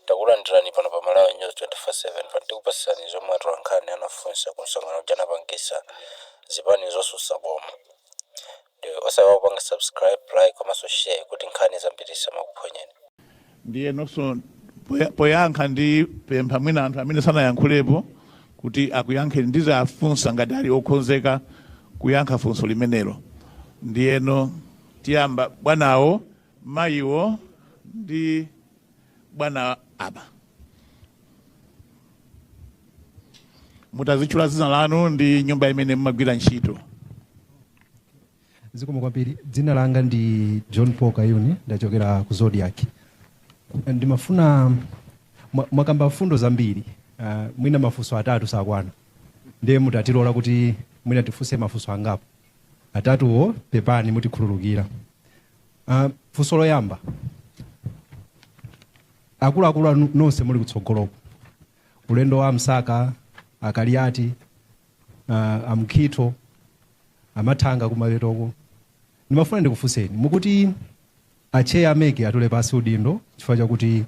Takulandirani pano pa Malawi News 24/7 pano tikupatsirani zomwe atolankhani anafunsa ku msonkhano uja anapangisa zipani zotsutsa boma ndi osaiwala kupanga subscribe, like komanso share kuti nkhani zambiri zisamakuphonyeni. Ndiyenonso poya- poyankha ndi pempha mwina anthu amene sanayankhulepo kuti akuyankheni ndizawafunsa ngati ali okhonzeka kuyankha funso limenero ndiyeno tiyamba bwanawo mayiwo ndi bwana awa mutazitchula dzina lanu ndi nyumba imene mumagwira ntchito zikomo kwambiri dzina langa ndi john paul kayuni ndachokera ku Zodiak ndimafuna mwa- mwakamba mfundo zambiri uh, mwina mafunso atatu sakwana ndiye mutatilola kuti mwina tifunse mafunso angapo atatuwo pepani mutikhululukira Uh, funso loyamba akuluakulu nonse muli kutsogoloku olemekezeka a Msaka a Kaliati uh, a Mkhitho a Mathanga kumapetoko ndimafuna ndikufunseni mukuti a cheya a MEC atule pansi udindo chifukwa chakuti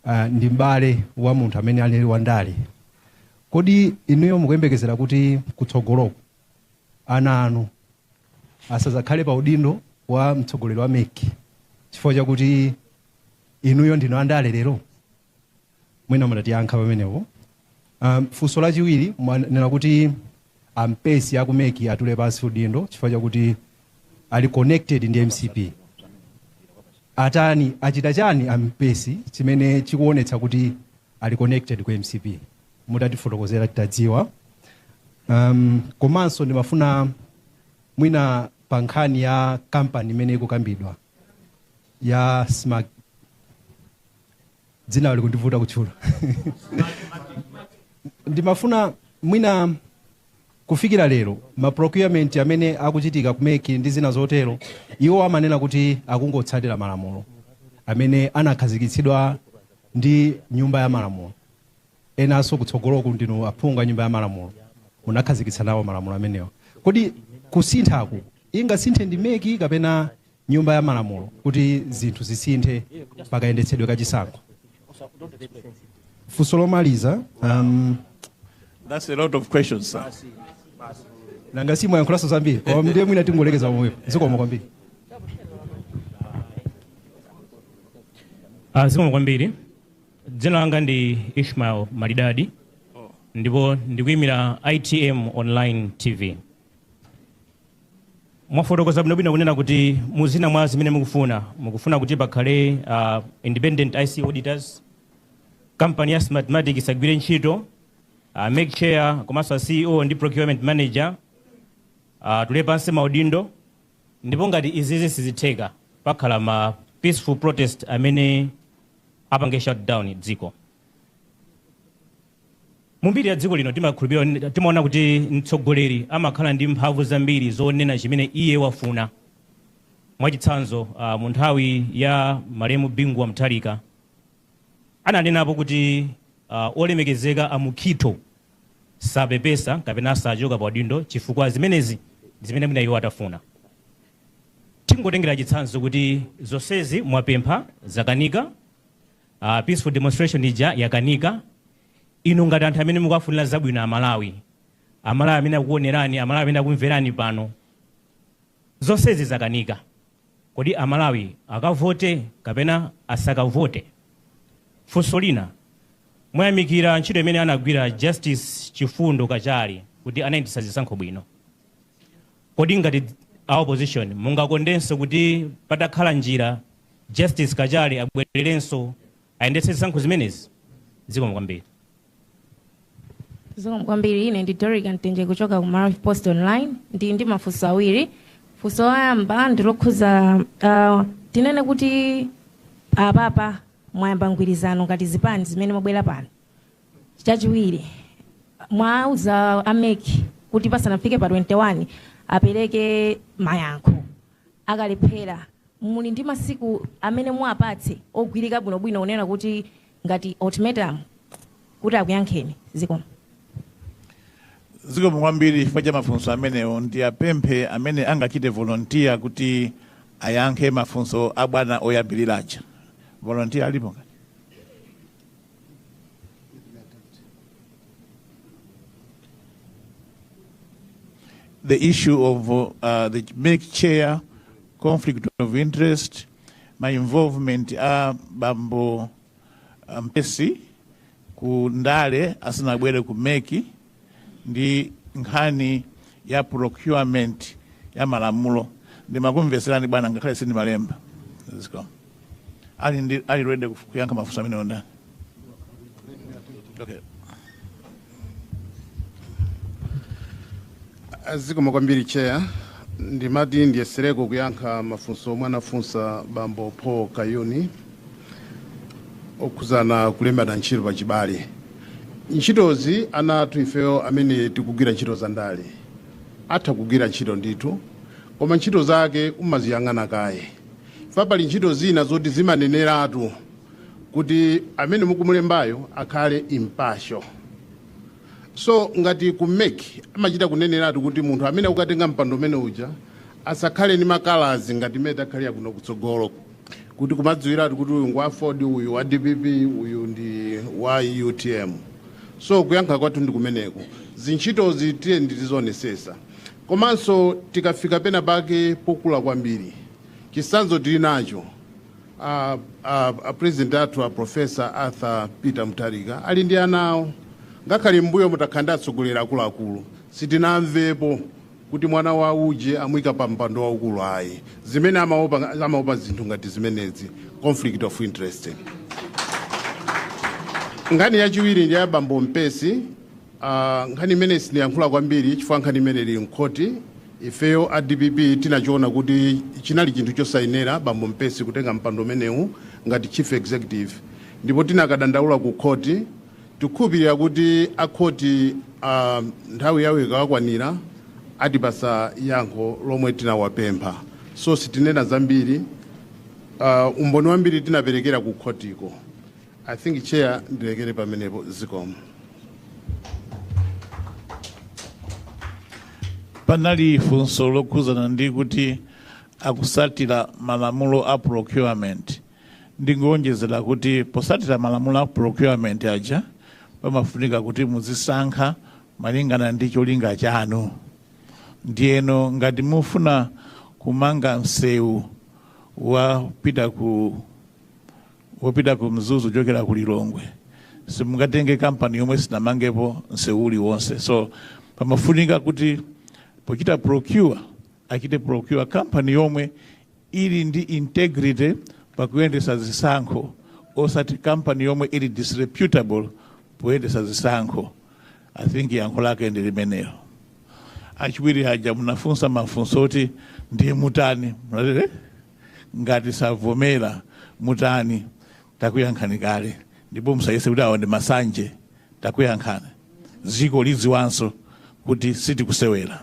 uh, ndi m'bale wa munthu amene ali wandale kodi inuyo mukuyembekezera kuti kutsogoloko ana anu asazakhale pa udindo wa mtsogoleri wa mec chifukwa chakuti inuyo ndinu andale lero mwina mutatiyankha pamenepo um, funso lachiwiri mwanena kuti a Mpesi a ku MEC atule pansi udindo chifukwa chakuti ali connected ndi mcp atani achita chani a Mpesi chimene chikuonetsa kuti ali connected ku mcp mutatifotokozera titadziwa. Um, komanso ndimafuna mwina pa nkhani ya kampani imene ikukambidwa ya smart dzina likundivuta kutchula ndimafuna mwina kufikira lero ma procurement amene akuchitika ku MEC ndi zina zotero iwo amanena kuti akungotsatira malamulo amene anakhazikitsidwa ndi nyumba ya malamulo enanso kutsogoloku ndinu aphungu a nyumba ya malamulo munakhazikitsa nawo malamulo amenewa. Kodi kusinthaku ingasinthe ndi mec kapena nyumba ya malamulo kuti zinthu zisinthe pa kayendetsedwe ka chisankho? Funso lomaliza um, That's a lot of questions, sir. nanga si mwayankhulanso zambiri ndiye mwina tingolekeza pomwepo zikomo kwambiri Ah, zikomo kwambiri Dzina langa ndi Ishmael Malidadi ndipo ndikuyimira ITM Online TV. Mwafotokoza bwinobwino kunena kuti mu zina mwa zimene mukufuna, mukufuna kuti pakhale ah, independent ICT auditors, kampani ya Smartmatic isagwire ntchito, ah, MEC chair komanso a CEO ndi procurement manager atule pansi maudindo ndipo ngati izizi sizitheka pakhala ma peaceful protest amene apange shut down dziko mumbiri ya dziko lino timakhulupirira timaona kuti mtsogoleri amakhala ndi mphamvu zambiri zonena chimene iye wafuna mwachitsanzo uh, mu nthawi ya malemu bingu wa mutharika ananenapo kuti uh, olemekezeka a mukhitho sapepesa kapena sachoka pa udindo chifukwa zimenezi zimene mwina iwo atafuna Tingotengera chitsanzo kuti zonsezi mwapempha zakanika, uh, peaceful demonstration ija yakanika. Inu ngati anthu amene mukuwafunira zabwino Amalawi, Amalawi amene akukuonerani, Amalawi amene akumverani pano, zonsezi zakanika, kodi Amalawi akavote kapena asakavote? Funso lina, mwayamikira ntchito imene anagwira Justice Chifundo Kachale kuti anayendetsa zisankho bwino. Kodi ngati a opposition mungakondenso kuti patakhala njira Justice Kachale abwererenso ayendetse zisankho zimenezi? Zikomo kwambiri. Zikomo kwambiri. Ine ndi Dorica Mtenje kuchoka ku Maravi Post Online. Ndili ndi mafunso awiri. Funso loyamba ndi lokhuza ah, tinene kuti apapa mwayamba mgwirizano ngati zipani zimene mwabwera pano Chachiwiri, mwauza a MEC kuti pasanafike pa 21 apereke mayankho. Akalephera, muli ndi masiku amene muwapatse ogwirika bwinobwino kunena kuti ngati ultimatum kuti akuyankheni. Zikomo. Zikomo kwambiri chifukwa cha mafunso amenewo. Ndiwapemphe amene angachite volontiya kuti ayankhe mafunso a bwana oyambirira aja. Volontiya alipo? the issue of uh, the make chair conflict of interest my involvement a bambo mpesi ku ndale asanabwere ku meki ndi nkhani ya procurement ya malamulo ndimakumvetserani bwana ngakhale sindimalemba zikomo ali ndi ali ready kuf- kuyankha mafunso amene onda okay zikomo kwambiri chair ndimati ndiyesereko kuyankha mafunso omwe anafunsa bambo paul kayuni okhudzana kulembana ntchito pa chibale ntchitozi ana athu ifeyo amene tikugwira ntchito za ndale atha kugwira ntchito ndithu koma ntchito zake umaziyang'ana kaye pali ntchito zina zoti zimaneneratu kuti amene mukumulembayo akhale impartial so ngati ku MEC amachita kuneneratu kuti munthu amene akukatenga mpando umene uja asakhale ndi makalazi ngati mmene takhaliramu kuno kutsogolo kuti kumadziwiratu kuti uyu ngwa aford uyu wa dpp uyu ndi wa utm so kuyankha kwathu ndi kumeneko zintchitozi tiyeni tizionesesa komanso tikafika pena pake pokula kwambiri chisanzo tili nacho a, a, a president athu a professor arthur peter mutharika ali ndi ana awo ngakhale mbuyomu takhala ndi atsogoleri akuluakulu sitinamvepo kuti mwana wa uje amuika pa mpando waukulu ayi zimene amaopa zinthu ngati zimenezi conflict of interest nkhani yachiwiri ndi ya bambo mpesi uh, nkhani imeneyi siniyankhula kwambiri chifukwa nkhani imeneyi ili mkhoti ifeyo a dpp tinachiona kuti chinali chinthu chosayenera bambo mpesi kutenga mpando umenewu ngati chief executive ndipo tinakadandaula ku khoti Tikukhulupirira kuti a khoti nthawi yawo ikawakwanira atipasa yankho lomwe tinawapempha so sitinena zambiri umboni wambiri tinaperekera ku khotiko I think chair ndilekere pamenepo zikomo. Panali funso lokhuzana ndi kuti akusatira malamulo a procurement. Ndingowonjezera kuti potsatira malamulo a procurement aja pamafunika kuti muzisankha malingana ndi cholinga chanu. Ndiyeno ngati mufuna kumanga msewu wopita ku wopita ku Mzuzu kuchokera ku Lilongwe simungatenge kampani yomwe sinamangepo msewu uliwonse. So pamafunika kuti pochita procure Achite procure company yomwe ili ndi integrity pakuyendesa zisankho osati company yomwe ili disreputable poyendesa zisankho. I think yankho lake ndi limenelo. Achiwiri aja munafunsa mafunso oti ndiye mutani? Munati eh? Ngati savomera mutani? Takuyankhani kale ndipo musayese kuti awa ndi masanje. Takuyankhani, dziko lidziwanso kuti sitikusewera.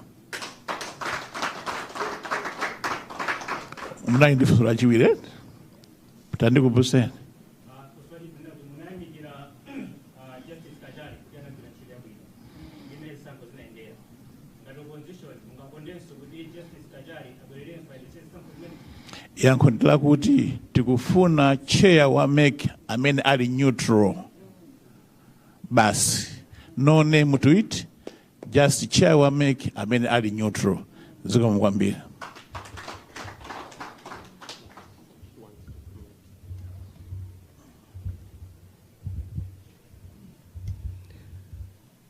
munali ndi funso lachiwiri eti tandikumbutseni yankho ndi lakuti tikufuna chair wa mec amene ali neutral basi no name to it Just chair wa mec amene ali neutral. Zikomo kwambiri.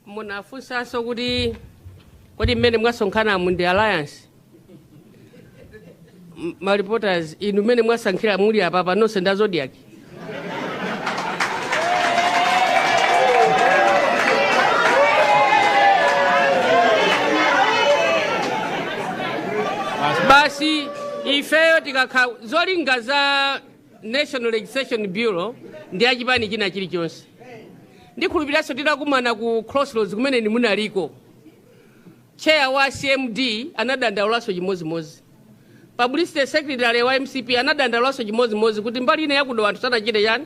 munafunsanso kuti kodi mmene mwasonkhanamu ndi alliance M- ma reporters inu mmene mwasankhira muli apapa nonse nda zodiak basi ifeyo tikakha zolinga za national registration bureau ndi achipani china chilichonse ndikhulupiriranso titakumana ku crossroads kumene inu munaliko Chair wa CMD anadandaulanso chimodzimodzi. Publicity Secretary wa mcp anadandaulanso chimodzimodzi kuti mbali ina ya ku Dowa anthu sanachite chani,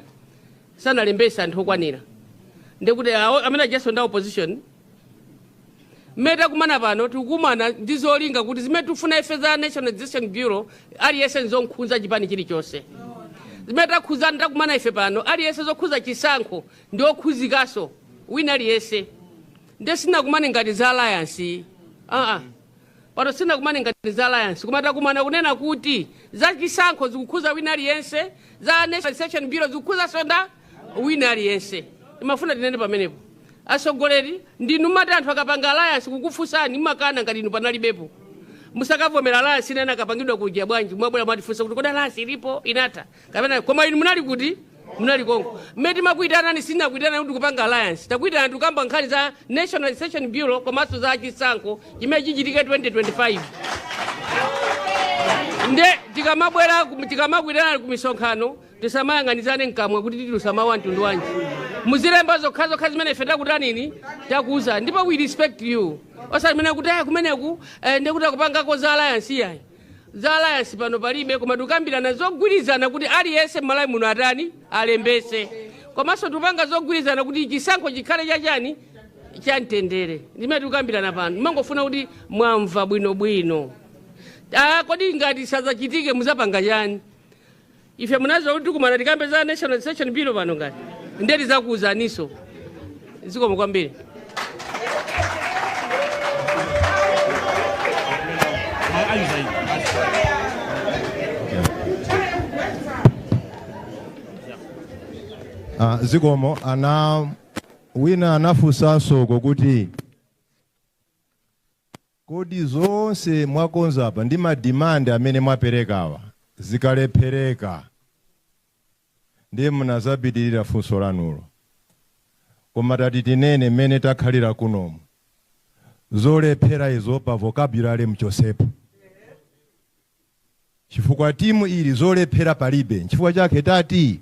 sanalembetse anthu okwanira. Ndiye kuti awo amene ajaso ndi a opposition mmene takumana pano tikukumana ndi zolinga kuti zimene tikufuna ife za National Registration Bureau aliyense nzokhuza chipani chilichonse zimene takhuzana takumana ife pano aliyense zokhuza chisankho ndi okhuzikanso wina aliyense ndiye sinakumane ngati za alliance iyayi aa pano sinakumane ngati za alliance koma takumana kunena kuti za chisankho zikukhuza wina aliyense za national registration bureau zikukhuzaso nda wina aliyense ndimafuna tinene pamenepo atsogoleri ndinu mati anthu akapanga alliance kukufunsani mmakana ngati inu panalibepo musakavomera alliance imene akapangidwa kuja bwanji mwabwera mwatifunsa kuti kodi alliance ilipo inatha kapena koma inu munali kuti munali konko mmene timakuyitanani sinakuyitanani kuti kupanga alliance takuyitanani tikukamba nkhani za national registration bureau komanso za chisankho chimene chichitike 2025 nde tikamabwera ku- tikamakuyitanani ku misonkhano tisamayang'anizane mkamwa kuti titulusa mawu a mtundu wanji muzilemba zokhazokha zimene ife takutanini takuuza ndipo we respect you osati mene kuti aya kumeneku eh, ndekuti akupangako za alliance iyayi Za alliance pano palibe koma tikukambirana zogwirizana kuti aliyense m'Malawi muno atani alembetse komanso tikupanga zogwirizana kuti chisankho chikhale chachani chamtendere ndimene tikukambirana pano ndimangofuna kuti mwamva bwinobwino Ah, kodi ngati sadzachitike muzapanga chani Ife mumaziwa kuti tikumana tikambe za National Registration Bureau pano ngati nde tizakuuzaniso. Zikomo kwambiri. Ah, zikomo ena wina anafunsanso uko kuti Kodi zonse mwakonza apa ndi ma demand amene mwaperekawa zikalephereka ndiye munazapitirira funso lanulo koma tati tinene mmene takhalira kunomu zolephera izo pa vocabulary mchotsepo chifukwa team ili zolephera palibe nchifukwa chake tati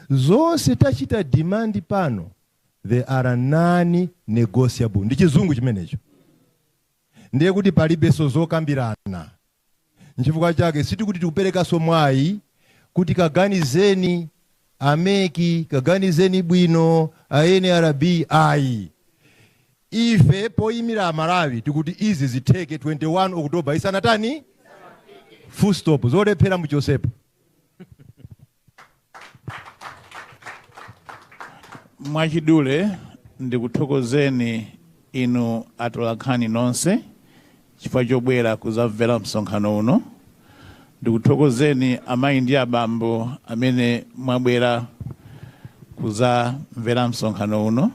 zonse tachita demand pano they are non negotiable ndi chizungu chimenecho ndiye kuti palibenso zokambirana nchifukwa chake sitikuti tikuperekaso mwayi kuti kaganizeni a MEC kaganizeni bwino a NRB ayi ife poyimira Amalawi tikuti izi zitheke 21 oktoba isanatani full stop zolephera muchotsepo mwachidule ndikuthokozeni inu atolankhani nonse chifukwa chobwera kuzamvera msonkhano uno ndikuthokozeni amayi ndi abambo amene mwabwera kuzamvera msonkhano uno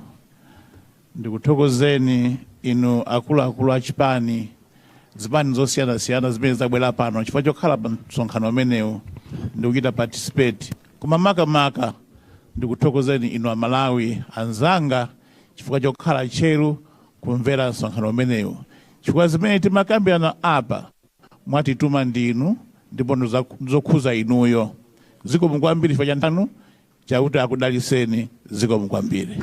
Ndikuthokozeni inu akuluakulu a chipani, zipani zosiyanasiyana zimene zabwera pano chifukwa chokhala pa msonkhano umenewu ndi kuchita participate. Koma makamaka ndikuthokozeni inu Amalawi anzanga chifukwa chokhala tcheru kumvera msonkhano umenewu chifukwa zimene timakambirana apa mwatituma ndinu ndipo ndi zokhuza inuyo. Zikomo kwambiri chifukwa cha nthawi yanu. Chauta akudalitseni. Zikomo kwambiri.